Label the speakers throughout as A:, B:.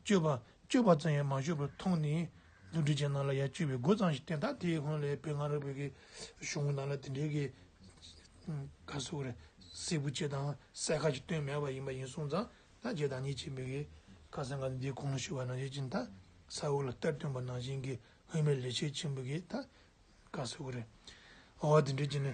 A: སྤྱོད་པ། སྤྱོད་པ་ཙམ་ཡང་མ་ཤོར་བར་མཐོང་ནས། འདུ་འཛི་ཅན་རྣམས་ལ་ཡང་སྤྱོད་པའི་སྒོ་ཙམ་ཞིག་བསྟན་ད་དེའི་སྔོན་ལས་བོད་སྔ་རབས་བོད་ཀྱི་གཞུང་རྣམས་ལ་དེ་འབྲེལ་གྱི། ཁ་གསོ་རེ། སྲིད་བུ་ཅེས་དང་གསལ་ཁ་ཅིག་བཏོན་མེད་པ་ཡིན་པ་ཡིན་གསུངས་ཙང་ད་རྗེས་དང་ཉིད་ཅེས་འབོད་ཀྱི། ཁ་སང་ག་འདིའི་གོང་ཞུས་པ་ནང་བཞིན་གྱི་ད་ས་འོག་ལ་གཏེར་སྟོན་པ་ནང་བཞིན་གྱི་སྔོན་མའི་ལས་བྱེད་ཆེན་པོ་གིས་ད། ཁ་གསོ་རེ། འོ་དེ་འབྲེལ་གྱི་ནི།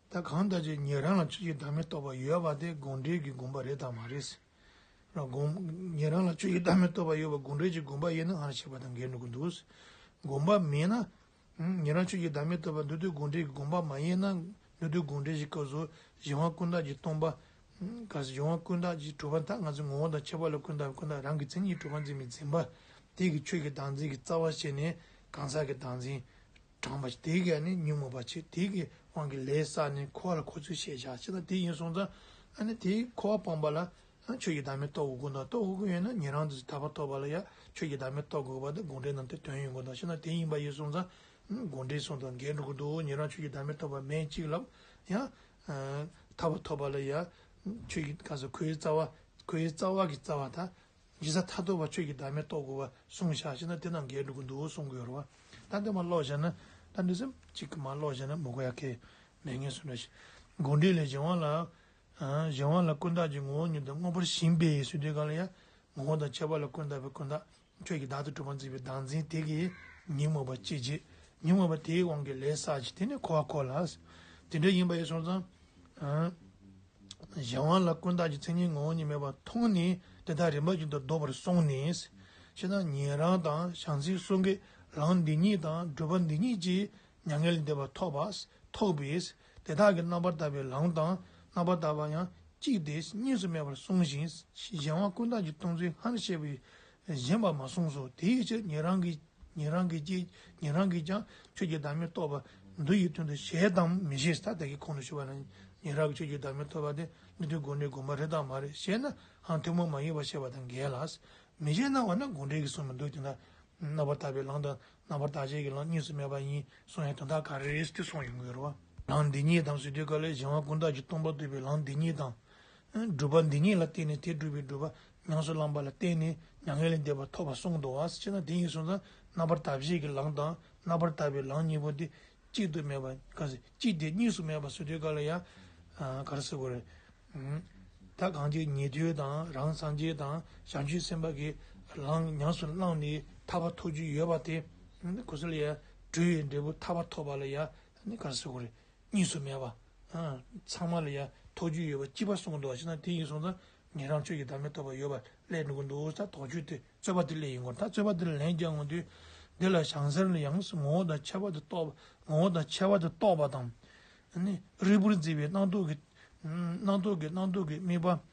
A: ད་གང་ལྟ་བྱས་ངེད་རང་ལ་བཅུ་ཡི་བདག་མེད་རྟོགས་པ་ཡོད་པ་དེ་དགོངས་འགྲེལ་གྱི་དགོངས་པ་རེད་དམ་མ་རེད་ཟེར། ངེད་རང་ལ་བཅུ་ཡི་བདག་མེད་རྟོགས་པ་ཡོད་པ་དགོངས་འགྲེལ་གྱི་དགོངས་པ་ཡིན་ནའང་བྱས་པ་དང་འགལ་འགྲོ་གི་འདུག་ཟེར། དགོངས་པ་མེད་ན། ངེད་རང་བཅུ་ཡི་བདག་མེད་རྟོགས་པ་འདི་དུས་དགོངས་འགྲེལ་གྱི་དགོངས་པ་མ་ཡིན་ན་འདི་དུས་དགོངས་འགྲེལ་གྱི་སྐབས་སུ་གཞན་དབང་ཀུན་བཏགས་ཀྱིས་སྟོང་པ། གཞན་དབང་ཀུན་བཏགས་ཀྱིས་གྲུབ་པ་དག་ང་ཚོའི་ངོ་བོ་དང་ཁྱད་པར་ལ་ཀུན་བཏགས་པའི་ཀུན་བཏགས་རང་གི་མཚན་ཉིད་གྲུབ་པ་འཛིན་མི་འཛིན་པ། དེ་གི་ཆོས་ཀྱི་བདག་འཛིན་གྱི་རྩ་བ་བཤད་ནས་གང་ཟག་གི་བདག་འཛིན། གྲངས་པ་དེ་གས་ནི་ཉོན་མོངས་པ་ཆེ་དེ་གི་དབང་གིས་ལས་བསགས་ནས་འཁོར་བ་ལ་འཁོར་ཚུལ་ཤེས་བྱ་ཅི་ལྟར་དེ་ཡིན་གསུངས་ཙང། ཨ་ནི་དེས་འཁོར་བ་སྤངས་པ་ལ། ཆོས་ཀྱི་བདག་མེད་རྟོགས་དགོས་ཀུན་དང་རྟོགས་དགོས་ཀུན་ཡོད་ན་ཉན་རང་དུ་དག་པ་ཐོབ་པ་ལ་ཡང་ཆོས་ཀྱི་བདག་མེད་རྟོགས་དགོས་པ་དང་དགོངས་འགྲེལ་རྣམས་ཏེ་དོན་ཡོད་ཀུན་དང་ཤེས་ན་དེ་ཡིན་པ་ཡིན་གསུངས་ཙང། དགོངས་འགྲེལ་གསུང་དང་འགལ་འགྲོ་གི་འདུག་ཉན་རང་ཆོས་ཀྱི་བདག་མེད་རྟོགས་པ་མེད་ཅིག་ལབ་ཡང། དག་པ་ཐོབ་པ་ལ་ཡང། ཆོས་ཀྱི་གང་ཟག་ཁོའི་རྩ་བ་ཁོའི་རྩ་བ་གི་རྩ་བ་དང། ཇི་ས་ཐ་དོ་བ་ཆོས་ཀྱི་བདག་མེད་རྟོགས་དགོས་པ་གསུངས་བཞག་ཅེ་ན་དེ་རྣམས་འགལ་འགྲོ་གི་འདུག་གསུང་གི་ཡོད་རེད་བ། ད་འདི་མ་ཀློག་བཞག་ན། ད་འདི་སེམས་གཅིག་གི་མ་ཀློག་བཞག་ན་མི་གོ་ཡ་ཁེ། ནས་ངས་སུ་འདྲ་ཞིག། དགོངས་འགྲེལ་ལས་གཞན་དབང་ལ། གཞན་དབང་ལ་ཀུན་བརྟགས་ཀྱི་ངོ་བོ་ཉིད་དང་དངོས་པོར་ཞེན་པས་སུས་འདོད་གང་ལ་ཡང། ངོ་བོ་དང་ཁྱད་པར་ལ་ཀུན་བརྟགས་པའི་ཀུན་བརྟགས། ཁྱོད་ཀྱིས་བདག་ཏུ་གྲུབ་པར་འཛིན་པའི་བདག་འཛིན་དེ་གིས། ཉིན་མོ་བ་སྐྱེད་བྱེད། ཉིན་མོ་བ་དེའི་དབང་གིས་ལས་བསགས་ཀྱི་དེ་ནས་འཁོར་བར་གོ་ལ། དེ་འདྲ་ཡིན་པ་ཡིན་སོང་ཙང། གཞན་དབང་ལ་ཀུན་བརྟགས་ཀྱི་མཚན་ཉིད་ངོ་བོ་ཉིད་མེད་པར་མཐོང་ནས་དེ་དག་རིམ་པ་བཞིན་དུ་ལྡོག་པར་སོང་ནས། ཕྱི་ནང་ཉན་རང་དང་བྱང་སེམས་གསུམ་གས་རང་འདི་ཉིད་དང་སྒྲུབ་པ་འདི་ཉིད་ཅེས་མྱ་ངན་འདས་པ་ཐོབ་པས་ཐོགས་པས་དེ་དག་གི་རྣམ་པར་དག་པའི་ལམ་དང་རྣམ་པར་དག་པ་ཡང་གཅིག་སྟེ་གཉིས་སུ་མེད་པར་གསུངས་ཤིང་གཞན་དབང་ཀུན་བརྟགས་ཀྱི་སྟོང་ཚུལ་སྔར་བཤད་པའི་གཞན་པར་མ་གསུངས་སོ། དེའི་ཕྱིར་ཉན་རང་གིས་ཉན་རང་གིས་ཀྱིས་ཉན་རང་གིས་ཀྱང་ཆོས་ཀྱི་བདག་མེད་རྟོགས་པ་འདུ་ཡི་དོན་དུ་ཞེས་དང་མི་ཞེས་ཐ་དད་ཀྱི་ཁོང་དུ་ཆུད་པ་ན་ཉན་རང་གིས་ཆོས་ཀྱི་བདག་མེད་ཐོབ་པ་དེ་ནི་དོན་དགོངས་འགྲེལ་དགོངས་པ་རེད་དམ་མ་རེད་ཞེ་ནའང་ཐུན་མོང་མ་ཡིན་པར་བཤད་པ་དང་འགལ་ལ། མི་ཞེས་སྣང་བ་ན་དགོངས་འགྲེལ་གྱི་གསུང་མི་འདུག་དེ་ན་རྣམ་པར་དག་པའི་ལམ་དང་རྣམ་པར་དག་བྱེད་ཀྱི་ལམ་གཉིས་སུ་མེད་པ་ཡིན་གསུང་ཡང་དོན་དག་ག་རེ་རེད་ཅེས་གསུང་ཡོང་གི་རེད་བ། ལམ་འདི་གཉིས་དང་ཟུར་དུས་སྐབས་ལས་གཞན་བ་ཀུན་བཏགས་ཀྱི་སྟོང་པ་བཏུས་པའི་ལམ་འདི་གཉིས་དང། སྒྲུབ་པ་འདི་ཉིད་ལ་བརྟེན་ནས་དེ་སྒྲུབ་པའི་སྒྲུབ་པ་ཉམས་སུ་བླངས་པ་ལ་བརྟེན་ནས་མྱ་ངན་ལས་འདས་པ་ཐོབ་པར་གསུངས་འདུག་བ་ཅི་ན་དེ་གཉིས་སོང་ཙང་རྣམ་པར་དག་བྱེད་ཀྱི་ལམ་དང་རྣམ་པར་དག་པའི་ལམ་གཉིས་པོ་དེ་གཅིག་ཏུ་མེད་པ་གང་ཟེ་གཅིག་དེ་གཉིས་སུ་མེད་པ་སོ་དུས་ག་ལ་ཡ། ག་རེ་སོ་གོ་རེ། ད་གང་ཅི་ཉེ་དུའི་དང་རང་སངས་རྒྱས་དང་བྱང་ཆུབ་སེམས་དཔའ་གྱི་ལམ་ཉམས་སུ་བླངས་ནས་ཐར་པ་ཐོབ་རྒྱུ་ཡོད་པ་དེ་གོ་ས་ལ་ཡ། གྲུ་བའི་འབྲས་བུ་ཐར་པ་ཐོབ་པ་ལ་ཡ། ག་རེ་སོ་གོ་རེ། གཉིས་སུ་མེད་པ། ཚང་མ་ལ་ཡང་ཐོགས་རྒྱུ་ཡོད་པ་སྐྱིད་པ་གསུངས་འདུག་ཅེ་ན་དེ་ཡིན་གསུངས་ཙང་ངས་རང་ཆོས་ཀྱི་བདག་མེད་ཐོབ་པ་ཡོད་པ་ཀླད་འདུག་འདུག་ས་དོགས་གཅོད་དེ་རྩོད་པ་དེ་ཀླད་ཡིན་སྐོར་ད་རྩོད་པ་དེ་ལ་ལན་རྒྱག་ངོ་དུས་འདི་ལ་ཞང་ཟེར་ནི་ཡང་ངོ་བོ་དང་ཁྱད་པར་དུ་གཏོགས་ངོ་བོ་དང་ཁྱད་པར་དུ་གཏོགས་པ་དང། རིལ་བུར་མཛེས་པའི་སྣང་སྟོང་གི་སྣང་སྟོང་གི་སྣང་སྟོང་གི་རྨིས་པ།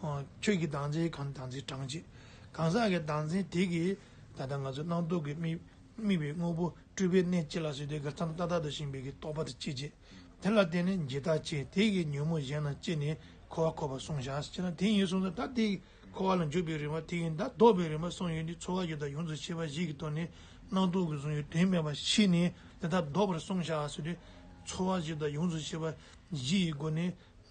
A: ཁྱོད་ཀྱི་སྡང་འཛིན་གང་སྡང་འཛིན་དྲངས་ཅིག། གང་ཟག་གི་སྡང་འཛིན་དེ་གིས་ད་ལྟ་ང་ཚོ་སྣང་སྟོང་གི་རྨིས་པའི་དངོས་པོ་སྤྲུལ་པའི་གནས་སྐྱེ་ལ་སོས་ཏེ་གར་འཆམ་ཏག་ཏག་ཏུ་ཞིང་བལ་གྱི་རྟོག་པ་དེ་སྐྱེད་ཅིག། དེ་ལ་བརྟེན་ནས་འཇིག་ལྟ་སྐྱེ་དེ་གིས་ཉོན་མོངས་གཞན་རྣམས་སྐྱེས་ནས་འཁོར་བར་འཁོར་བར་སོང་བཞག་ཅེ་ན་དེ་ཡིན་གསུངས་སོ་ད་དེའི་འཁོར་བ་ལ་འཇུག་པའི་རིམ་པ་དེ་ཡིན་ད་ལྡོག་པའི་རིམ་པ་གསུངས་ཡོད་འདི་འཚོ་བ་ཡོད་དང་ཡོངས་སུ་ཤེས་པ་བཞི་གིས་སྟོང་ནས་སྣང་སྟོང་གི་གཟུང་ཡུལ་དོན་མེད་པར་ཤེས་ནས་འདི་ལྟར་ལྡོག་པར་སོང་བཞག་ཟེར་ཏེ། འཚོ་བ་བཞི་དང་ཡོངས་སུ་ཤེས་པ་བཞི་ཡི་སྒོ་ནས།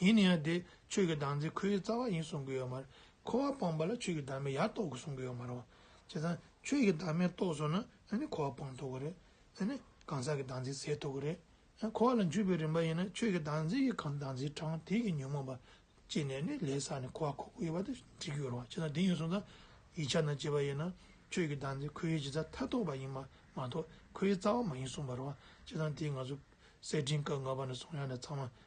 A: ཡིན་ན་ཡང་དེ་ཆོས་ཀྱི་བདག་འཛིན་ཁོ་བོའི་རྩ་བ་ཡིན་གསུང་གི་ཡོད་མ་རེད། འཁོར་བ་སྤངས་པ་ལ་ཆོས་ཀྱི་བདག་མེད་ཡར་རྟོགས་དགོས་གསུང་གི་ཡོད་མ་རེད། བྱས་ཙང་ཆོས་ཀྱི་བདག་མེད་རྟོགས་སོང་ན་ཨ་ནི་འཁོར་བ་སྤངས་ཐུབ་གི་རེད། ཨ་ནི་གང་ཟག་གི་བདག་འཛིན་ཟད་ཐུབ་གི་རེད། འཁོར་བ་ལ་འཇུག་པའི་རིམ་པ་ཡིན་ན་ཆོས་ཀྱི་བདག་འཛིན་གྱི་གང་བདག་འཛིན་དྲང་ཐིག་གི་ཉོན་མོངས་པ་སྐྱེས་ནས་ནི་ལས་བསགས་ནས་འཁོར་བ་ཁོ་བོ་ཡོད་པ་དེ་འདྲི་གི་ཡོད་རེད་བ་བྱས་ཙང་དེ་ཡིན་གསུང་ཙང་ཡིག་ཆ་ན་བཅས་པ་ཡིན་ན་ཆོས་ཀྱི་བདག་འཛིན་ཁོ་བོའི་གཞི་རྩ་མཐའ་རྟོགས་པ་ཡིན་པ་མ་གཏོགས་ཁོ་བོའི་རྩ་བ་མ་ཡིན་གསུང་པ་རེད་བ་བྱས་ཙང་དེ་ང་ཚོ་གསེར་ཕྲེང་སྐབས་ལྔ་པ་ནས་བཟུང་ཡང་ན་ཚང་མ་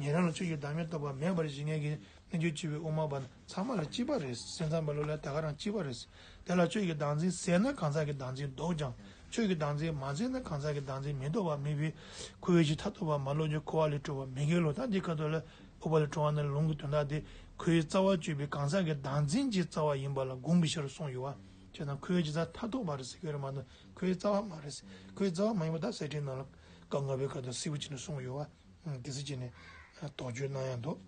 A: ཉན་རང་ལ་ཆོས་ཀྱི་བདག་མེད་རྟོགས་པ་མེད་པར་གཞི་ངན་གྱི་གནས་གྱུར་ཅེས་པའི་དབུ་མ་པ་ཚང་མ་ལ་གཅིག་པ་རེད། སེམས་ཙམ་པ་ལུགས་ལ་ད་ག་རང་གཅིག་པ་རེད། དེ་ལ་ཆོས་ཀྱི་བདག་འཛིན་ཟེར་ན་གང་ཟག་གི་བདག་འཛིན་ལྡོག་ཀྱང་ཆོས་ཀྱི་བདག་འཛིན་མ་ཟེར་ན་གང་ཟག་གི་བདག་འཛིན་མི་ལྡོག་པ་མེད་པས་ཁོ་བོས་ཕྱི་ཐ་ཐོ་བ་མ་བློ་རྒྱུ་འཁོར་བ་ལས་སྤྲོ་བ་མི་དགེ་བློ་དང་དེ་ཁ་ཐོ་ལ་འོག་པ་ལས་སྤྲོ་བ་ནི་ལུང་གི་དོན་དག་སྟེ་ཁོ་བོའི་རྩ་བ་གཅོད་པའི་གང་ཟག་གི་བདག་འཛིན་གྱི་རྩ་བ་ཡིན་པ་ལ་དགོངས་པའི་ཕྱིར་རུ་གསུངས་ཡོད། ཅེས་དང་ཁོ་བོའི་རྩ་ཐ་ཐོ་བ་རེད་ཟེར་གྱི་རེད་མ་གཏོགས་ཁོ་བོའི་རྩ་བ་མ་རེད། ཁོ་བོའི་རྩ་བ་མ་ཡིན་པ་དག་གསེར་ཁྲིའི་ནང་ལ་ཀ་ལྔ་པའི་ཁ་ཐོ་སེར་བུ་ཅིག་ནས་གསུངས་ཡོད། དེ་སྲིད་ཅེས་ནི། དོགས་གཅོད་སྣང་ཡང་དོགས།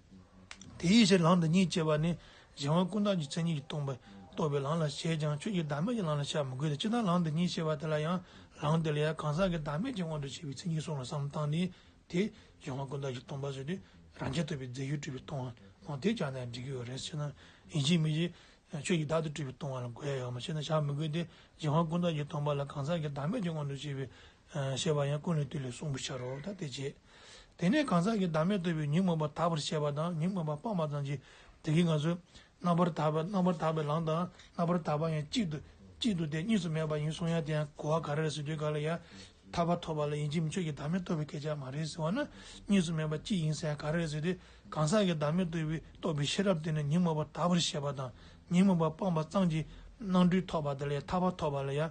A: དེ་ཡི་ཕྱིར་ལང་དང་གཉིས་བཅས་པ་ནི། གཞན་དབང་ཀུན་བཏགས་ཀྱི་མཚན་ཉིད་ཀྱིས་སྟོང་པས་རྟོགས་པའི་ལང་ལ་བྱེད་ཀྱང་ཆོས་ཀྱི་བདག་མེད་ཀྱི་ལང་ལ་བྱ་མི་དགོས་ཏེ་ཅི་སྟེ་ལང་དང་གཉིས་བཅས་པ་དེ་ལ་ཡང་ལང་དེ་ལ་ཡང་གང་ཟག་གི་བདག་མེད་ཀྱི་དབང་དུ་བྱས་པའི་མཚན་ཉིད་སོང་ལ་བསམ་བཏང་ནས་དེས་གཞན་དབང་ཀུན་བཏགས་ཀྱི་སྟོང་པ་བཟོས་ཏེ་རང་རྒྱལ་ཐོབ་པའི་རྫས་ཡུལ་སྤྲུལ་པའི་སྟོང་བའང་དེས་ཀྱང་ནི་འགྲིག་གི་རེད་ཅེ་ན། ཡིན་གྱི་མིན་གྱི། ཆོས་ཀྱི་བདག་ཏུ་སྤྲུལ་པའི་སྟོང་བ་ལ་དགོས་ཡོད་མ་ཤེས་ན་བྱ་མི་དགོས་ཏེ་གཞན་དབང་ཀུན་བཏགས་ཀྱི་སྟོང་པ་ལ་གང་ཟག་གི་བདག་མེད་ཀྱི་དབང་དུ་བྱས་པའི་ཞེས་པ་ཡང་ཀུན་ལས་བཏུས་ལས་གསུངས་པར་བྱར་རོ། དེ་རྗེས་དེ་ནས་གང་ཟག་གི་བདག་མེད་རྟོལ་བའི་ཉོན་མོངས་པ་དག་པར་བྱས་པ་དང་ཉོན་མོངས་པ་སྤངས་པ་ཙམ་གྱིས་བདག་གིས་ང་ཚོས་རྣམ་པར་དག་པའི་རྣམ་པར་དག་པའི་ལམ་དང་རྣམ་པར་དག་པ་ཡང་གཅིག་ཏུ་གཅིག་ཏུ་སྟེ་གཉིས་སུ་མེད་པ་ཡིན་གསུང་ཡང་དེ་ཡང་གོ་བ་ག་རེ་རེད་ཟེར་དུས་ག་ལ་ཡང་ཐར་པ་ཐོབ་པ་ལ་ཡིན་གྱི་མི་ཆོས་ཀྱི་བདག་མེད་རྟོལ་བའི་སྐད་ཆ་མ་རེད་ཟེར་བ་ན་གཉིས་སུ་མེད་པ་གཅིག་ཡིན་ས་ཡང་ག་རེ་རེད་ཟེར་དུས་གང་ཟག་གི་བདག་མེད་རྟོལ་བའི་རྟོགས་པའི་ཤེས་རབ་དེ་ནི་ཉོན་མོངས་པ་དག་པར་བྱས་པ་དང་ཉོན་མོངས་པ་སྤངས་པ་ཙམ་གྱིས་སྣང་འགྲུས་ཐོབ་པ་དེ་ལས་ཐར་པ་ཐོབ་པ་ལ་ཡང་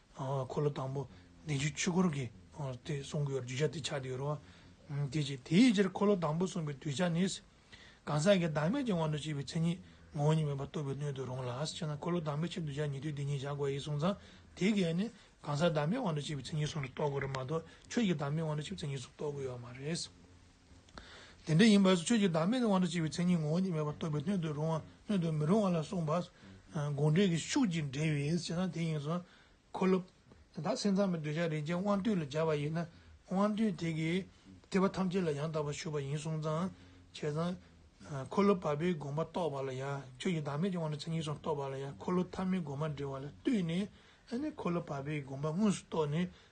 A: འཁོར་ལོ་དང་པོ་བདེ་ཆེན་ཆོས་འཁོར་གྱི་དེ་གསུངས་ཀྱི་ཡོད་རེད་བརྗོད་བྱ་དེ་ཆགས་ཀྱི་ཡོད་རེད། དེ་རྗེས་དེའི་ཕྱིར་འཁོར་ལོ་དང་པོ་གསུངས་པའི་གདུལ་བྱ་ནི། གང་ཟག་གི་བདག་མེད་ཀྱི་དབང་དུ་བྱས་པའི་མཚན་ཉིད་ངོ་བོ་ཉིད་མེད་པར་རྟོགས་པའི་སྣོད་དུ་རུང་ལ། ཅེ་ན་འཁོར་ལོ་དང་པོའི་ཕྱིར་གདུལ་བྱ་ཉིད་དུས་དེ་ཉིད་བཞག་གོ་ཡིས་གསུངས་ཙང་དེའི་གེགས་ནི་གང་ཟག་བདག་མེད་དབང་དུ་བྱས་པའི་མཚན་ཉིད་ཟུང་དུ་རྟོགས་དགོས་རེད་མ་གཏོགས་ཆོས་ཀྱི་བདག་མེད་དབང་དུ་བྱས་པའི་མཚན་ཉིད་ཟུང་རྟོགས་དགོས་ཡོད་མ་རེད། དེ་འདྲ་ཡིན་པ་ཆོས་ཀྱི་བདག་མེད་དབང་དུ་བྱས་པའི་མཚན་ཉིད་ངོ་བོ་ཉིད་མེད་པར་རྟོགས་པའི་སྣོད་དུ་རུང་བ་སྣོད་དུ་མི་རུང་བ་ལ་གསུངས་པ། དགོངས་འགྲེལ་གྱི་ཤུགས་ཀྱིས་འགྲེལ་བས་ཅེ་ན་དེ་ཡིན་གསུངས། འཁོར་ལོ། དེ་དག་སེམས་ཙམ་པའི་འདོད་ཆགས་རིགས་ཅན་དབང་རྟུལ་ལ་སྦྱར་བ་ཡིན་ན། དབང་རྟུལ་དེ་གིས་ཐེག་པ་ཐམས་ཅད་ལ་ཡང་དག་པར་ཞུགས་པ་ཡིན་གསུངས། ཙང་བྱེད་ཙང། འཁོར་ལོ་བར་པའི་དགོངས་པ་རྟོགས་པ་ལ་ཡང་ཆོས་ཀྱི་བདག་མེད་ཀྱི་དབང་དུ་མཚན་ཉིད་གསུམ་རྟོགས་པ་ལ་ཡང་འཁོར་ལོ་ཐ་མའི་དགོངས་པ་འགྲེལ་བ་ལ་ལྟོས་ནས། འཁོར་ལོ་བར་པའི་དགོངས་པ་དངོས་སུ་རྟོགས་ནས་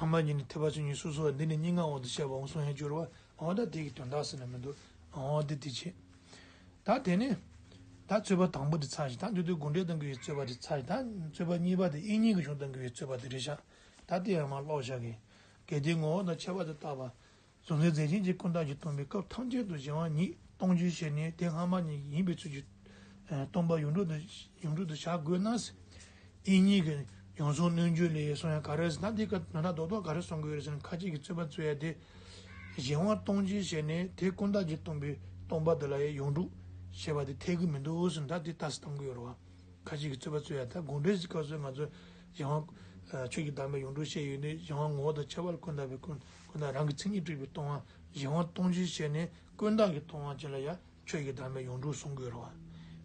A: ཨ་མ་གཉིས་ནི་ཐེག་པ་ཆོས་ཉིད་སོ་སོ་བ་འདི་ནི་སྙིང་གའང་འོག་ཏུ་བཤད་པའང་གསུང་ཡང་སྦྱོར་བ་འོག་ད་དེ་གི་དོན་དག་ཟེར་ན་མི་འདུག་འོག་འདི་དེ་བྱས། ད་དེ་ནས། ད་རྩོད་པ་དང་པོ་དེ་ཚར་ཞིག་ད་འདི་དུས་དགུང་འབྲེལ་གཏང་གི་ཡོད་རྩོད་པ་དེ་ཚར་ཞིག་ད་རྩོད་པ་གཉིས་པ་དེ་དབྱིན་ཉིག་གི་གཞུང་གཏང་གི་ཡོད་རྩོད་པ་དེ་རེད་བཞག་ད་དེ་ཡང་མ་ཀློག་བཞག་གི། གལ་ཏེ་ངོ་བོ་དང་ཁྱད་པར་དུ་བཏགས་པ། བཟོ་རྩལ་མཛད་ཆེན་གྱི་ཀུན་བཏགས་ཀྱི་སྟོན་པའི་སྐབས་ཐམས་ཅད་དུ་གཞན་དབང་ཉིད་སྟོང་རྒྱུའི་ཞལ་ནས་དེ་སྔ་མ་ཉིད་ཡིན་པའི་ཚུལ་གྱིས། སྟོན་པ་ཡུངས་འབྲུ་དུ་བྱ་དགོས་ན། དབྱིན་གཉིས་ཀྱི་ཡོངས་བཟུང་སྣོད་བཅུད་ལས་སོང་ཡང་ག་རེ་ཟིན་ན་དེ་ཀ་ནོ་ན་རྡོག་རྡོག་ག་རེ་སོང་གི་ཡོད་རེ་ཟིན་ན་ཁ་ཅིག་གིས་རྩོད་པ་རྩོད་ཡ་དེ། གཞན་དབང་སྟོང་རྒྱུའི་ཞལ་ནས་དེ་ཀུན་བཏགས་ཀྱི་སྟོན་པའི་སྟོན་པ་འདི་ལ་ཡ་ཡུངས་འབྲུ་ཞེས་པ་དེ་འཐད་གི་མི་འདུག་ཟེར་ན་དེ་ལྟ་སི་སྟོན་གི་ཡོད་རེད་བ། ཁ་ཅིག་གིས་རྩོད་པ་རྩོད་ཡ་ད་དགོངས་འགྲེལ་གྱི་སྐབས་སུ་ང་ཚོས་གཞན་དབང། ཆོས་ཀྱི་དམ་པའི་ཡུངས་འབྲུ་ཞེས་ཡོད་ནི་གཞན་དབང་ངོ་བོ་དང་ཁྱད་པར་ཀུན་བཏགས་པའི་ཀུན། ཁོ་ན་རང་གི་མཚན་ཉིད་དཀྲིས་པའི་སྟོང་བ་གཞན་དབང་སྟོང་ཆེན་བཤད་ནས་ཀུན་བརྟགས་ཀྱི་སྟོང་བ་ཅན་ལ་ཡང་ཆོས་ཀྱི་བདག་མེད་ཡོངས་གྲུབ་གསུང་དགོས་རོ།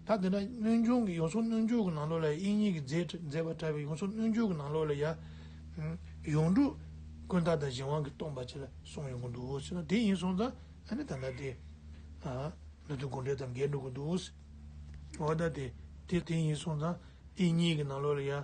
A: ད་དེ་འདྲ་སྣོད་འབྱུང་གི་ཡོངས་སུ་སྣོད་འཇོག་གི་ནང་ལོགས་ལ་ཡང་དབྱིངས་ཉིད་ཀྱི་མཛད་པ་བཀྲལ་བའི་ཡོངས་སུ་སྣོད་འཇོག་གི་ནང་ལོགས་ལ་ཡང། ཡོངས་གྲུབ་ཀུན་བརྟགས་དང་གཞན་དབང་གི་སྟོང་པ་ཅན་ལ་གསུང་ཡོང་གི་འདུག་ཟེར་ན་དེ་ཡིན་སོང་ཙང་ཨ་ནི་ད་ལྟ་དེ། ནུ་དུ་དགུ་འབྲེལ་དང་འགལ་འགྲོ་གི་འདུག། འོ་ད་དེ་དེ་ཡིན་སོང་ཙང་དབྱིངས་ཉིད་ཀྱི་ནང་ལོགས་ལ་ཡང།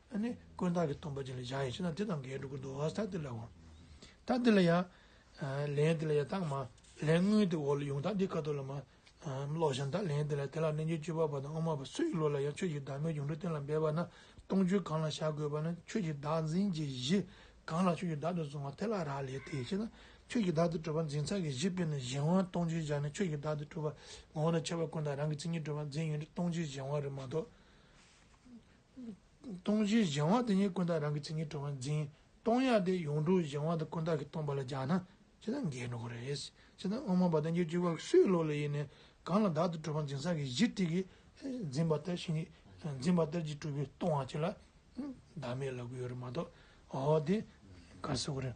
A: ནི་དཀོན་བརྟགས་ཀྱི་སྟོང་པ་ཅན་ལ་བཞག་ཡིན་ཞེ་ན་དེ་དང་འགལ་འགྲོ་ཀུན་ཏུ་བ་ས་དེ་ལའོ། ཐ་དེ་ལ་ཡང། ལན་དེ་ལ་ཡང་རྟགས་མ། ལན་དངོས་དེ་འོག་ལ་ཡོངས་གྲགས་འདི་ཀ་ཏོ་ལ་མ། ལོག་གཞན་དག་ལན་དེ་ལ་དེ་ལ་རྣལ་འབྱོར་སྤྱོད་པ་པ་དང་དབུ་མ་པ་སུ་ཡི་བློ་ལ་ཡང་ཆོས་ཀྱི་བདག་མེད་འབྱུང་འགྲོ་གཏན་ལ་འབེབས་པ་ན་སྟོང་ཆོས་གང་ལ་བཞག་དགོས་པ་ན་ཆོས་ཀྱི་བདག་འཛིན་གྱི་གཞི། གང་ལ་ཆོས་ཀྱི་བདག་ཏུ་བཟུང་བ་དེ་ལ་རག་ལས་ཏེ་ཞེ་ན། ཆོས་ཀྱི་བདག་ཏུ་གྲུབ་པ་འཛིན་ཚད་ཀྱི་གཞི་དཔེར་ན་གཞན་དབང་སྟོང་ཆོས་བཞག་ནས་ཆོས་ཀྱི་བདག་ཏུ་གྲུབ་པ། ངོ་བོ་ན་ཁྱབ་པ་ཀུན་དང་རང་གི་མཚན་ཉིད་གྲུབ་པ་འཛིན་ཡུལ་ནི་སྟོང་ཆོས་གཞན་དབང་རེ་མ་གཏོགས། སྟོང་གཞི་གཞན་དབང་དེ་ཉིད་ཀུན་བཏགས་རང་གི་ཚིག་ངན་དྲོ་བར་འཛིན། སྟོང་ཡང་དེ་ཡོངས་གྲུབ་གཞན་དབང་དུ་ཀུན་བཏགས་ཀྱིས་སྟོང་པ་ལ་སྦྱར་ན་ཇི་ལྟར་འགལ་འགྲོ་གི་རེད། ཇི་ལྟར་སྔོན་མ་བ་དན་གྱི་སྤྱོད་པ་སུའི་བློ་ལ་ཡེ་ནས་གང་ལ་བདག་ཏུ་གྲུབ་པར་འཛིན་ས་ཀྱི་གཞི་ཏིག་གིས་འཛིན་པ་ལྟར་བཞིན་གྱི་འཛིན་པ་ལྟར་གྱིས་གྲུབ་པའི་སྟོང་བ་གཅིག་ལ་བདག་མེད་ལབ་ཀྱི་ཡོད་རེད་མ་གཏོགས་འོ་དེ་ག་ཟེར་གི་རེད།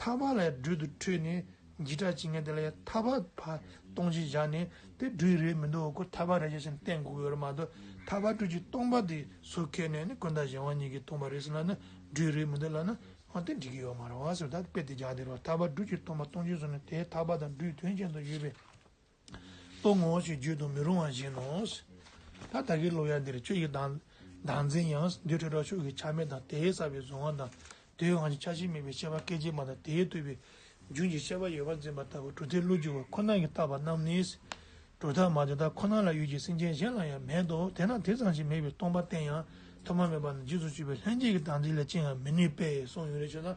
A: ཐ་བ་ལས་སྦྲུལ་དུ་འཁྲུལ་ནས་འཇིགས་སྐྲག་བྱེད་ངན་དེ་ལས་ཐ་བ་བར་སྟོང་ཞིག་བཞག་ནས་དེ་སྦྲུལ་རེད་མི་འདུག་གོ་ཐ་བ་རེད་བྱས་ཤིང་བསྟན་བསྒུགས་ཡོད་རེད་མ་གཏོགས་ཐ་བ་སྦྲུལ་གྱི་སྟོང་པ་དེ་སོ་ཁས་ནས་ནི་ཀུན་ད་གཞན་དབང་གཉིས་ཀྱི་སྟོང་པ་རེད་ཟེར་ལ་ནི་སྦྲུལ་རེད་མི་འདུག་ལ་ནི་འོན་ཏེ་འགྲིག་གི་ཡོད་མ་རེད་བ་ཟེར་ད་དཔེ་དེ་རྒྱག་བདེ་རོགས་ཐ་བ་སྦྲུལ་གྱི་སྟོང་པ་སྟོང་ཆེན་ཟེར་ནས་དེའི་ཐ་བ་དང་སྦྲུལ་དོན་ཅན་དུ་ཡོད་པའི་ལྟོ་ངོ་ཞེས་བརྗོད་དུ་མི་རུང་བ་བཞིན་ནོ། ད་ལྟ་གི་ལོ་ཡ་འདིར་ཁྱོད་ཀྱི་བདག་འཛིན་ཡང་རྡུལ་ཕྲ་དྲག་ཕྱོགས་ཀྱི་ཆ་མེད་དང་དེའི་ས་པའི་གཟུང་བ་དང་དེའི་དབང་གིས་ཆ་ཤས་མེད་པའི་ཤེས་པ་སྐད་ཅིག་མ་དང་དེས་བཏུས་པའི་རྒྱུན་གྱི་ཤེས་པ་ཡོད་པར་འཛིན་པ་ལྟ་བུ་གྲུབ་མཐའི་བློ་འགྱུ་བ་ཁོ་ན་གྱིས་བཏགས་པ་རྣམས་ནི། གྲུབ་མཐའ་མ་དེ་དག་ཁོ་ན་ལ་ཡོད་ཀྱི་སེམས་ཅན་གཞན་ལ་ཡང་མེད་དོ་དེས་ན་དེ་ཙམ་ཞིག་མེད་པའི་སྟོང་པ་གཏན་ཡང་ཐོབ་མ་མེད་པ་ན་རྗེས་སུ་སྤྱོད་པའི་ལྷན་སྐྱེས་ཀྱི་བདག་འཛིན་ལས་ཅི་ཡང་མི་ནུས་པས་སོགས་ཡོངས་རེ་ཆོད་ན།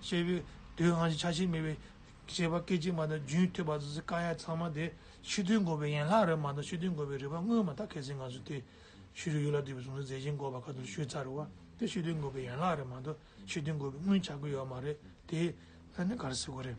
A: ཞེས་པའི་མདོའི་དབང་བཞི་ཆ་ཤས་མེད་པའི་བྱེད་པ་སྐད་ཅིག་མ་དང་རྒྱུན་མཐུད་པ་སོ་སོའི་ཀ་ཡ་ཚང་མ་དེ་ཕྱི་དོན་འགོད་པའི་ཡན་ལག་རེད་མ་གཏོགས་ཕྱི་དོན་འགོད་པའི་རིག་པ་དངོས་མ་དག་གལ་སྲིད་ང་ཚོས་དེ་ཕྱི་རོལ་ཡུལ་ལ་འདུས་པའི་གཟུང་འཛིན་རྫས་ཆེན་འགོག་པ་ཁ་ཏོན་ཞུས་ཚར་བ་དེ་ཕྱི་དོན་འགོད་པའི་ཡན་ལག་རེད་མ་གཏོགས་ཕྱི་དོན་འགོད་པའི་དངོས་བྱ་དགོས་ཡོད་མ་རེད་དེ། ཨ་ནི་ག་རེ་ཟེར་དགོས་རེད།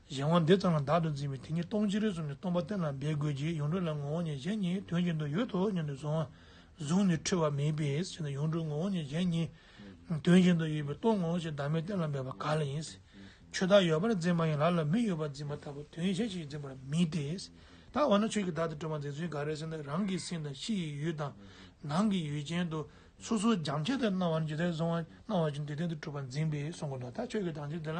A: གཞན་དབང་འདི་ཙམ་ལ་བདག་ཏུ་འཛིན་པས་དེ་ཉིད་སྟོང་ཕྱི་རོལ་གསུམ་ནས་སྟོང་པ་གཏན་ལ་འབེབས་དགོས་ཀྱི་ཡོངས་གྲུབ་ལ་ངོ་བོ་ཉིད་གཞན་གཉིས་དོན་གྱི་འདུ་ཡོད་དོ་སྙམ་དུ་གཟུང། གཟུང་ནི་འཁྲུལ་བ་མེད་པའི་ཕྱིར་ན་ཡོངས་གྲུབ་ངོ་བོ་ཉིད་གཞན་གཉིས། དོན་གྱི་འདུ་ཡོད་པའི་སྟོང་ངོ་ཞེས་བདག་མེད་གཏན་ལ་འབེབས་པ་ག་ལ་ཡིན། ཆོས་བདག་ཡོད་པར་འཛིན་པ་ཡང་ལ་ལ་མི་ཡོད་པར་འཛིན་པ་ལྟ་བུ་དོན་གཞན་ཞིག་འཛིན་པར་མི་ལྟའི། ད་འོ་ན་ཆོས་ཀྱི་བདག་དེ་སྤྲོས་པ་འཛིན་ཚུལ་འགའ་རེ་ཟིན་ན་རང་གི་སེམས་དང་ཕྱི་ཡི་ཡུལ་དང། ནང་གི་ཡུལ་ཅན་དུ་སོ་སོ་སྦྱང་བྱ་ལྟར་སྣང་བ་ནི་ཇི་ལྟར་གཟུང་བ་སྣང་བ་བཞིན་དེ་བདེན་དུ་གྲུབ་པར་འཛིན་པས་གཟུང་གོ་ད་ཆོས་ཀྱི་བདག་འཛིན་དེ་ལ་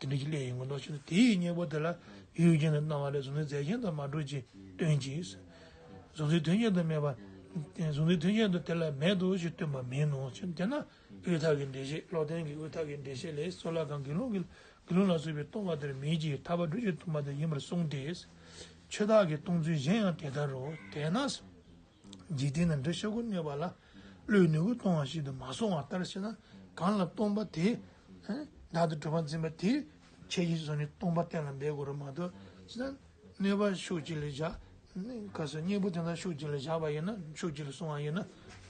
A: དེ་འདྲ་ཞིག་སླད་ཡིན་དགོས་མདོག་བྱས་ན་དེ་ཡི་སྙིང་པོ་དེ་ལ་ཡུལ་རྐྱེན་དང་སྣང་བ་ལས་གཟུང་འཛིན་རྫས་གཞན་དུ་མ་གྲུབ་ཅིང་སྟོན་ཅིག། གཟུང་འཛིན་དོན་གཞན་དུ་མེད་པ། གཟུང་འཛིན་དོན་གཞན་དུ་དེ་ལ་མེད་དོ་ཞེས་སྟོན་པ་མིན་ནོ། དེས་ན་དབུས་མཐའ་གི་འགྲེལ་བཤད་ལོག་ལྡན་གྱི་དབུས་མཐའ་གི་འགྲེལ་བཤད་ལས་སོགས་ལ་གང་དགེ་སློང་གིས་དགེ་སློང་ལ་གསོལ་བའི་གཏོང་བ་དེར་མིན་གྱི་ཐར་པ་སྒྲུབ་བྱེད་དུ་མ་དེ་ཡིན་པར་གསུངས་ཏེ། ཆོས་བདག་གིས་གཏོང་ཚུལ་གཞན་ཡང་དེ་ལྟར་རོ། དེས་ན། འཇིག་རྟེན་ན་འདྲེ་ཤ་ཁུ་གནོད་པ་ལ། བློའི་ནུས་པ་གཏོང་བ་ཞིག་ཏུ་མ་སོང་བ་ལྟར་བྱས་ན་གང་ལ་སྟོང་པ་དེས། བདག་ཏུ་གྲུབ་པར་འཛིན་པ་དེས་ཁྱད་ཀྱིས་བཟུང་ནས་སྟོང་པ་གཏན་ལ་འབེབས་དགོས་རབས་མ་གཏོགས་ཅི་ལ། གནོད་པ་ཤུགས་ཅིག་ལ་བཞག། ཁ་སོས་སྙིང་པོ་དེ་དག་ཤུགས་ཅིག་ལ་བཞག་པ་ཡིན་ན་ཤུགས་ཅིག་ལ་བཟུང་བ་ཡིན་ན་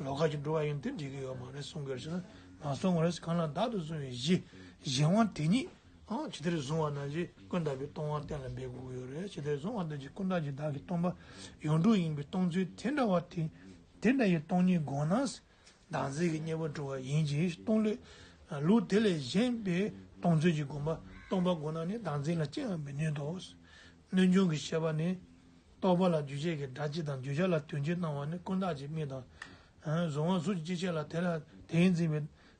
A: ལོག་ཁ་ཅིག་འགྲོ་བ་ཡིན་དེ་འགྲིག་གི་ཡོད་མ་རེད་གསུང་དགོས་རེད་བྱས་ན་མ་གསུང་བར་གང་ལ་བདག་ཏུ་བཟུང་བའི་གཞི་གཞན་དབང་དེ་ཉིད་ཨང། ཇི་ལྟར་བཟུང་བ་རྣམས་ཀྱིས་ཀུན་བརྟགས་པའི་སྟོང་བ་གཏན་ལ་འབེབས་དགོས་ཀྱི་རེད། ཇི་ལྟར་བཟུང་བ་རྣམས་ཀྱིས་ཀུན་བརྟགས་ཀྱི་བདག་གི་སྟོང་པ་ཡོངས་གྲུབ་ཡིན་པའི་སྟོང་ཚུལ་དེ་འདྲ་བ་དེ་དེ་འདྲ་ཡི་སྟོང་ཉིད་དགོངས་ན། བདག་འཛིན་གྱི་གཉེན་པོར་འགྲོ་བ་ཡིན་གྱི་སྟོང་ལས། ལུགས་དེ་ལས་གཞན་པའི་སྟོང་ཚུལ་གྱི་དགོངས་པ་སྟོང་པ་དགོངས་ན་ནི་བདག་འཛིན་ལ་སྐྱེ་བར་མི་ནུས་ཏོ། སྣོད་འབྱུང་གི་ཤེས་པ་ནི། རྟོག་པ་ལ་འགྱུ་བྱེད་ཀྱི་སྒྲ་སྤྱི་དང་འགྱུ་བྱ་ལ་དོན་སྤྱི་སྣང་བ་ནི་ཀུན་བརྟགས་ཀྱི་དམིགས་དང། གཟུང་བ་གཟུགས་ཀྱི་སྤྱི་བྱེད་ལ་དེ་ལ་དེའི་འཛིན་པའི།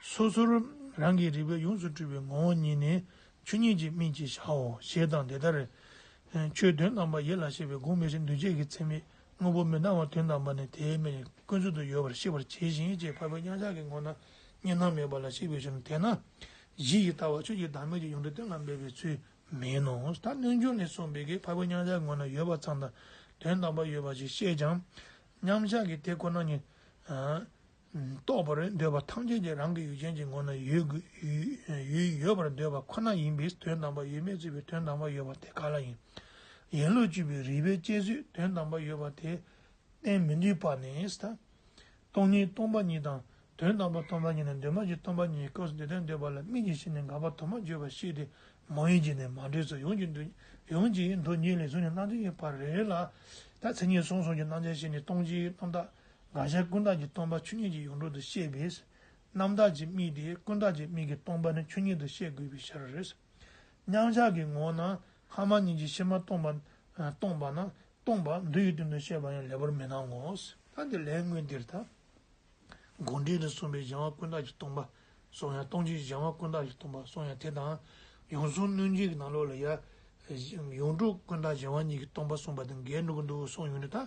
A: སོ་སོར་རང་གིས་རིག་པས་ཡོངས་སུ་སྤྲུལ་པའི་ངོ་བོ་ཉིད་ནི་ཆོས་ཉིད་ཀྱི་སྨིན་བྱེད་བྱའོ་ཞེས་དང་དེ་ལྟར། ཆོས་དོན་དམ་པ་ཡིད་ལ་བྱེད་པའི་དགུག་མེད་ཞེས་འདུས་བྱས་ཀྱི་མཚན་མེད་དངོས་པོ་མི་སྣང་བ་དོན་དམ་པ་ནི་དེའི་མེ་ལས་ཀུན་རྫོབ་ཏུ་ཡོད་པར་ཤེས་པར་བྱས་ཤིང་ཅེས་འཕགས་པའི་མཉམ་གཞག་གི་ངོ་ན་གཉིས་སྣང་མེད་པ་ལ་གཞིག་པའི་ཕྱིར་ན་དེས་ན། གཞི་ཡི་ལྟ་བ་ཆོས་ཀྱི་བདག་མེད་ཀྱི་ཡོངས་གྲོལ་གཏན་ལ་འབེབས་པའི་ཚུལ་མིན་ནོ། ད་རྣལ་འབྱོར་ནས་གསུངས་པའི་གེགས་འཕགས་པའི་མཉམ་གཞག་ངོ་ན་ཡོད་པ་ཙམ་དང་དོན་དམ་པ་ཡོད་པ་ཞིག་བཤད་ཀྱང། མཉམ་གཞག་གི་དེ་ཁོ་ན་ཉིད། རྟོགས་པར་འདོད་པ་ཐམས་ཅད་ཀྱི་རང་གི་ཡུལ་ཅན་གྱི་ངོ་ན་ཡོད་ཡོད་པར་འདོད་པ་ཁོ་ན་ཡིན་པས་དོན་དམ་པར་ཡོད་མེད་རྩོད་པའི་དོན་དམ་པར་ཡོད་པ་དེ་ག་ལ་ཡིན། ཡན་ལོ་བཅུ་པའི་རིགས་པའི་དཔྱད་བཟོད་དོན་དམ་པར་ཡོད་པ་དེ་བསྟན་མི་ནུས་པ་ནི། སྟོང་ཉིད་སྟོང་པ་ཉིད་དང་དོན་དམ་པར་སྟོང་པ་ཉིད་ནི་འདོད་མ་ཡིན་སྟོང་པ་ཉིད་ཀྱི་སྐབས་སུ་འདི་ལྟར་འདོད་པ་ལ་མིག་གི་ཤེས་ནས་འགག་པ་དུ་མ་བརྗོད་པར་ཤེས་ཏེ་མ་ཡིན་གྱི་ནི་མ་འདྲེས་སོ། ཡོངས་ཀྱི་འདུ་གཉིས་ལས་གཟུགས་ནི་སྣང་མཛད་ཀྱི་བར་རེ་རེ་ལ། ད་མཚན་ཉིད་གསུམ་གསུམ་གྱི་སྣང་ཆ་ཤེས་ནས་སྟོང་ཆའི་རྣམ་དག། དགག་བྱ་ཀུན་བརྟགས་ཀྱི་སྟོང་པ་ཆོས་ཉིད་ཀྱི་ཡོངས་གྲོལ་དུ་བཤད་པས། རྣམ་དག་ཅེས་དམིགས་ཏེ་ཀུན་བརྟགས་ཀྱི་དམིགས་ཀྱི་སྟོང་པ་ནི་ཆོས་ཉིད་དུ་བཤད་དགོས་པའི་ཕྱིར་རོ། མཉམ་གཞག་གི་ངོ་བོ་ན་ལྷག་མ་གཉིས་ཀྱི་ཕྱིར་མ་སྟོང་པ་སྟོང་པ་ན་སྟོང་པ་འདུ་ཡི་དོན་དུ་བཤད་པ་ཡང་ལེགས་པར་མི་སྣང་ངོ། ལྷ་འདི་ལྷའི་དངོས་འདིར་དག། དགོངས་འགྲེལ་དུ་གསུངས་པའི་སྦྱང་བ་ཀུན་བརྟགས་ཀྱི་སྟོང་པ་སོགས་ཡང་སྟོང་ཆེན་སྦྱང་བ་ཀུན་བརྟགས་ཀྱི་སྟོང་པ་སོགས་ཡང་དེ་དང། ཡོངས་གཟུང་གནོད་སྦྱིན་གྱི་ནང་ལོགས་ལ་ཡང། ཡོངས་གྲུབ་ཀུན་བརྟགས་སྦྱང་བ་གཉིས་ཀྱི་སྟོང་པ་གསུངས་པ་དང་འགལ་འགྲོ་གི་འདུག་གསུངས་ཡོད་ནི་དག་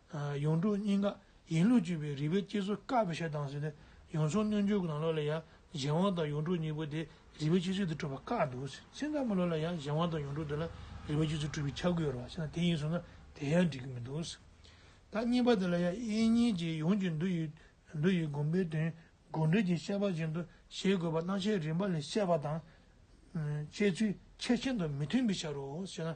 A: ཡོངས་གྲུབ་སྙིང་ག་ཡིན་ལུགས་བཅུད་པའི་རིག་པའི་སྐྱེལ་སོ་དཀར་པོ་ཞལ་གདངས་ཟིན་ནས་ཡོངས་བྱུང་སྣོད་འཇོའི་གདངས་ལོ་ལ་ཡང་གཞན་དབང་དང་ཡོངས་གྲུབ་གཉིས་པོ་དེ་རིག་པའི་སྐྱེལ་སོ་དེ་སྤྲོས་པ་བཀག་འདུག་ཚིག་འདབ་མ་ལོ་ལ་ཡང་གཞན་དབང་དང་ཡོངས་གྲུབ་དེ་ལ་རིག་པའི་སྐྱེལ་སོ་སྤྲོས་པའི་ཆ་དགོས་རོ་ཞེ་ན་དེ་ཡིན་ཟུག་ན་དེ་ཡང་འགྲིག་གི་མི་འདུག་ཟེར། ད་གཉིས་པ་དེ་ལ་ཡང་དབྱེ་གཉིས་ཀྱི་ཡོངས་ཀྱི་འདུ་ཡི་འདུ་ཡི་སྒོམ་པའི་དོན་དགོངས་འགྲེལ་གྱི་བཤད་པ་བཞིན་དུ་བཞེད་དགོས་པ་སྣང་ཆའི་རིམ་པ་ལས་བཤད་པ་དང། བཤད་ཚུལ་ཁྱད་ཤིན་ཏུ་མི་མཐུན་པའི་ཕྱིར་རོ་ཞེ་ན།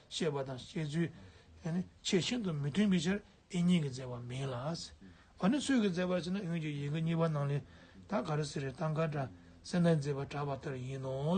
A: བཤད་པ་དང་བཤད་ཚུལ་ཆེས་ཤིན་ཏུ་མི་མཐུན་པའི་ཕྱིར་ཨེ་ཉིད་ཀྱིས་མཛད་པ་མིན་ལ། འོ་ན་སུས་ཀྱིས་མཛད་པར་བྱེད་ན་ཡོངས་ཀྱི་ཡི་གེ་གཉིས་པ་རྣམས་ལས་ད་ག་རི་སི་རའི་ཏང་ཀ་བཀྲ་སེ་ནའི་མཛད་པར་གྲགས་པ་ལྟར་ཡིན་ནོ།